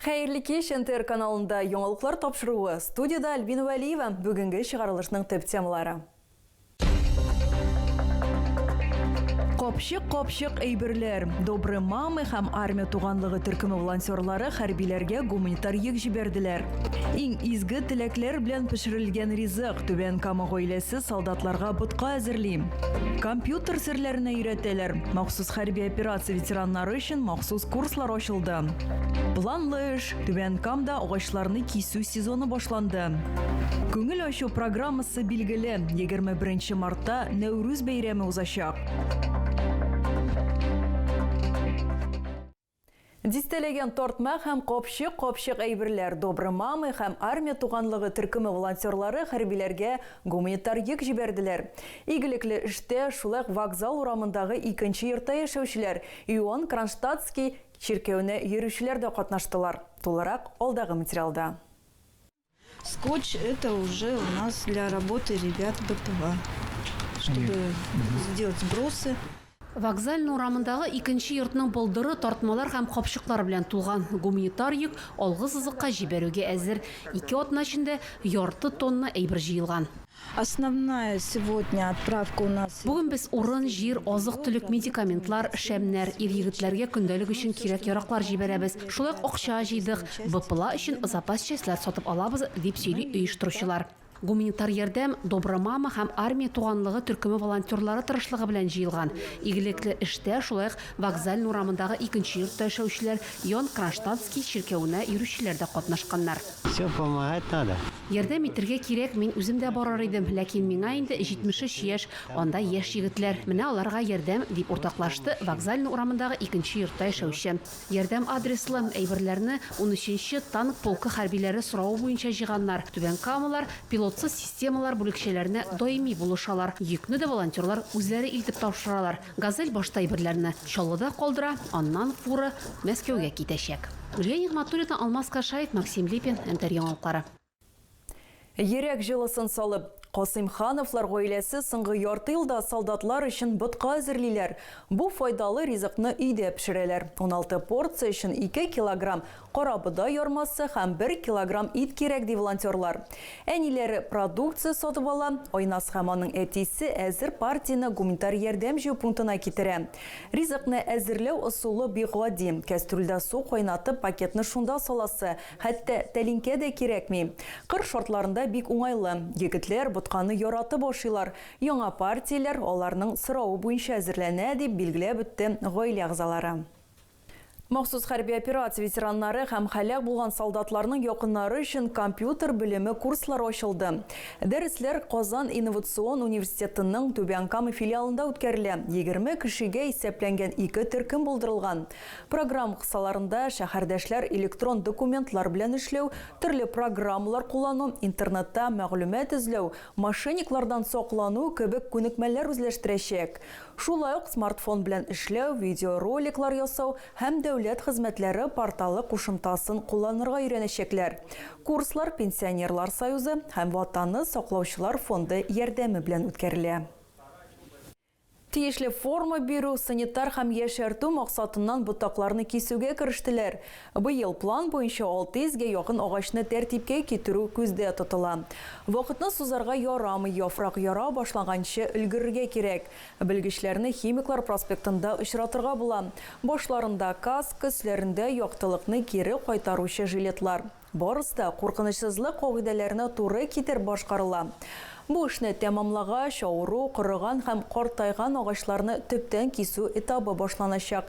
Хәерле кич! НТР каналында яңалыклар тапшыруы. Студиядә Альбина Вәлиева. Бүгенге чыгарылышның төп темалары. Капчык капчык әйберләр. Добры мамы һәм Армия туганлыгы төркеме волонтерлары хәрбиләргә гуманитар йөк җибәрделәр. Иң изге теләкләр белән пешерелгән ризык, Түбән Кама гаиләсе солдатларга ботка әзерли. Компьютер серләренә өйрәтәләр. Махсус хәрби операция ветераннары өчен махсус курслар ачылды. Планлы эш Түбән Камда агачларны кисү сезоны башланды. Күңел ачу программасы билгеле. 21 мартта Нәүрүз бәйрәме узачак. Дистәләгән тартма һәм капчык капчык әйберләр Добры мамы һәм армия туганлыгы төркеме волонтерлары хәрбиләргә гуманитар йөк җибәрделәр. Игелекле эштә шулай вокзал урамындагы икенче йортта яшәүчеләр Ион Кронштадтский Чиркәүне йөрүчеләр дә катнаштылар. Тулырак алдагы материалда. Скотч это уже у нас для работы ребят БПА, чтобы сделать вбросы. Вокзальный урамындагы икенче йортның болдыры тартмалар һәм капчыклар белән тулган. Гуманитар йөк алгы сызыкка җибәрүгә әзер. Ике атна эчендә ярты тонна әйбер җыелган. Основная сегодня отправка у нас. Бүген без урын, җир, азык-төлек, медикаментлар, шәмнәр, ир-егетләргә көндәлек өчен кирәк-яраклар җибәрәбез. Шулай ук акча җыйдык, БПЛА өчен запас частьләр сатып алабыз, дип сөйли оештыручылар. Гуманитар ярдәм Добра мама һәм Армия туганлыгы төркеме волонтерлары тырышлыгы белән җыелган. Игелекле эштә шулай ук Вокзальный урамындагы икенче йортта яшәүчеләр, Иоанн Кронштадтский чиркәвенә йөрүчеләр дә катнашканнар. Все помогать надо. Ярдәм итергә кирәк, мин үзем дә барыр идем, ләкин миңа инде 73 яшь, анда яшь егетләр, менә аларга ярдәм, дип уртаклашты Вокзальный урамындагы икенче йортта яшәүче. Ярдәм адреслы, әйберләрне унөченче танк полкы хәрбиләре соравы буенча җыйганнар. Түбән Камалар пилотсыз системалар бүлекчәләренә даими булышалар, йөкне дә волонтерлар үзләре илтеп тапшыралар. Газель башта әйберләрне Чаллыда калдыра, аннан фура Мәскәүгә китәчәк. Гөлия Нигъмәтуллина, Алмаз Кашаев, Максим Липин, Нтр яңалыклары. Йөрәк җылысын салып, Касыймхановлар гаиләсе соңгы ярты елда солдатлар өчен ботка әзерлиләр. Бу файдалы ризыкны өйдә пешерәләр. Уналты порция өчен ике килограмм Карабодай ярмасы һәм бер килограмм ит кирәк, ди волонтерлар. Әниләре продукция сатып ала, Айназ һәм аның әтисе әзер партияне гуманитар ярдәм җыю пунктына китерә. Ризыкны әзерләү ысулы бик гади, кәстрүлдә су кайнатып, пакетны шунда саласы, хәтта тәлинкә дә кирәкми. Кыр шартларында бик уңайлы. Егетләр ботканы яратып ашыйлар, яңа партияләр аларның соравы буенча әзерләнә, дип билгеләп үтте гаилә әгъзалары. Махсус хәрби операция ветераннары һәм һәлак булган солдатларның якыннары өчен компьютер белеме курслары ачылды. Дәресләр Казан инновацион университетының Түбән Кама филиалында үткәрелә, егерме кешегә исәпләнгән ике төркем булдырылган. Программа кысаларында шәһәрдәшләр электрон документлар белән эшләү, төрле программалар куллану, интернетта мәгълүмат эзләү, мошенниклардан саклану кебек күнекмәләр үзләштерәчәк. Шулай ук смартфон белән эшләү, видеороликлар ясау һәм дәүләт хезмәтләре порталы кушымтасын кулланырга өйрәнәчәкләр. Курслар Пенсионерлар союзы һәм Ватанны саклаучылар фонды ярдәме белән үткәрелә. Тиешле форма бирү, санитар һәм яшәртү максатыннан ботакларны кисүгә керештеләр. Быел план буенча 600 гә якын агачны тәртипкә китерү күздә тотыла. Вакытны сузарга ярамый, яфрак яра башлаганчы өлгерергә кирәк. Белгечләрне Химиклар проспектында очратырга була. Башларында, каска, өсләрендә, яктылыкны кире кайтаручы жилетлар. Барысы да куркынычсызлык кагыйдәләренә туры китереп башкарыла. Бу эшне тәмамлагач, авыру, корыган һәм картайган агачларны төптән кисү этабы башланачак.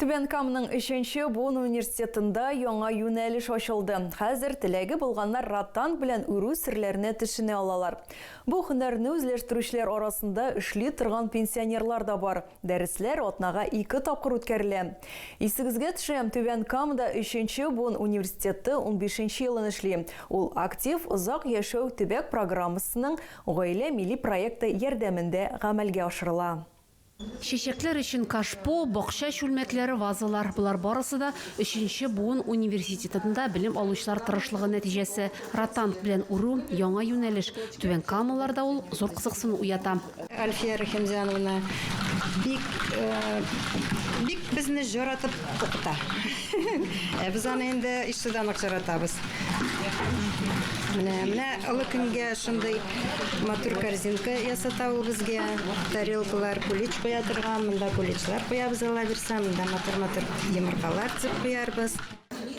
Түбән Каманың өченче буын университетында яңа юнәлеш ачылды. Хәзер теләге булганнар ротанг белән үрү серләренә төшенә алалар. Бу һөнәрне үзләштерүчеләр арасында эшли торган пенсионерлар да бар. Дәресләр атнага ике тапкыр үткәрелә. Исегезгә төшерәм, Түбән Камада өченче буын университеты унбишенче елын эшли. Ул Актив озак яшәү төбәк программасының Гаилә милли проекты ярдәмендә гамәлгә ашырыла. Чәчәкләр өчен кашпо, бакча чүлмәкләре, вазалар, болар барысы да өченче буын университетында белем алучылар тырышлыгы нәтиҗәсе. Ротанг белән үрү, яңа юнәлеш. Түбән Камаларда ул зур кызыксыну уята. Әлфия Рәхимҗановна бик, бик безне җаратып укыта. Ә без аны инде ишедан ук чаратабыз. Менә, менә олы көнгә шундый матур корзинка ясата ул безгә. Тарелкалар, кулич куя торган, монда куличлар куябыз Алла бирсә, монда матур-матур йомыркалар тезеп куярбыз.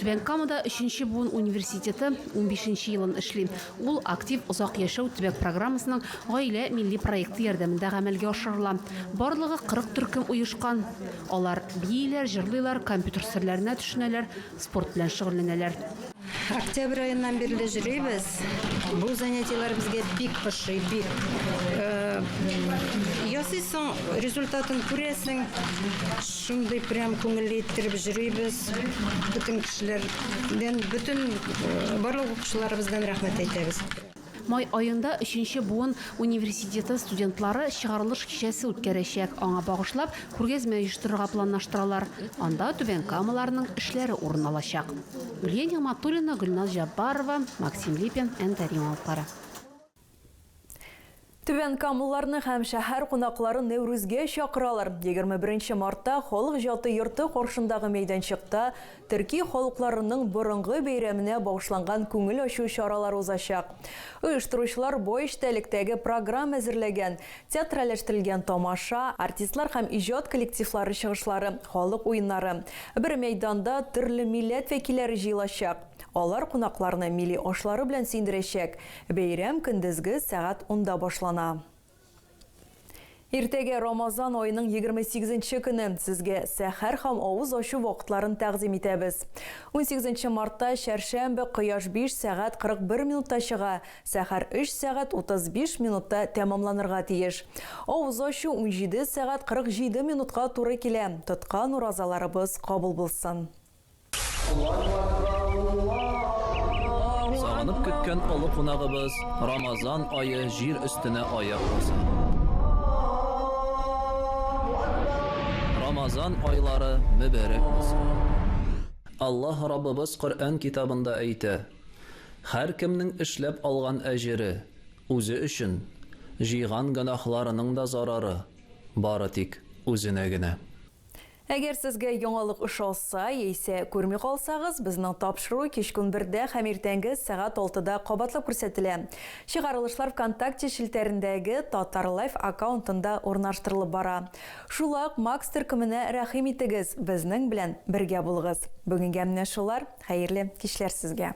Түбән Камада өченче буын университеты унбишенче елын эшли. Ул Актив озак яшәү төбәк программасының Гаилә милли проекты ярдәмендә гамәлгә ашырыла. Барлыгы 40 төркем оешкан. Алар бииләр, җырлыйлар, компьютер серләренә төшенәләр, спорт белән шөгыльләнәләр. Октябрь аеннан бирле җырлыйбыз. Бу занятиеләр безгә бик ошый, бик. Ясыйсың, результатын күрәсең. Шундый прям күңелле иттереп җырлыйбыз. Бөтен кешеләрдән, бөтен барлык укучыларыбыздан рәхмәт әйтәбез. Май аенда өченче буын университеты студентлары чыгарылыш кичәсе үткәрәчәк. Аңа багышлап күргәзмә оештырырга планлаштыралар. Анда Түбән Камаларның эшләре урын алачак. Гүлия Нигъмәтуллина, Гөлназ Җаббарова, Максим Липин, Әнкәр яңалыклары. Түбән Камлыларны һәм шәһәр кунакларын Нәүрүзгә чакыралар. Егерме беренче мартта Халык җаты йорты каршындагы мәйданчыкта төрки халыкларының борынгы бәйрәменә багышланган күңел ачу чаралары узачак. Оештыручылар бай эчтәлектәге программа әзерләгән, театральләштерелгән тамаша, артистлар һәм иҗат коллективлары чыгышлары, халык уеннары. Бер мәйданда төрле милләт вәкилләре җыелачак. Алар кунакларны милли ашлары белән сөендерәчәк. Бәйрәм көндезге сәгать унда башлана. Иртәгә, Рамазан аеның егерме сигезенче көне, сезгә сәхәр һәм авыз ачу вакытларын тәкъдим итәбез. Унсигезенче мартта, чәршәмбе, кояш биш сәгать кырык бер минутта чыга, сәхәр өч сәгать утыз биш минутта тәмамланырга тиеш. Авыз ачу унҗиде сәгать кырык җиде минутка туры килә. Тоткан уразаларыбыз кабул булсын! Сагынып көткән олы кунагыбыз Рамазан ае җир өстенә аяк баса. Рамазан айлары мөбәрәк булсын! Аллаһ Раббыбыз Коръән китабында әйтә, Һәркемнең эшләп алган әҗере, үзе өчен, җыйган гөнаһларының да зарары, бары тик үзенә генә. Әгәр сезгә яңалык ошаса, яисә күрми калсагыз, безнең тапшыру кичкүн бердә һәм иртәнге сәгать алтыда кабатлап күрсәтелә. Чыгарылышлар Вконтакте челтәрендәге Татарлайф аккаунтында урнаштырылып бара. Шулай ук Макс төркеменә рәхим итегез, безнең белән бергә булыгыз. Бүгенгә менә шулар, хәерле кичләр сезгә!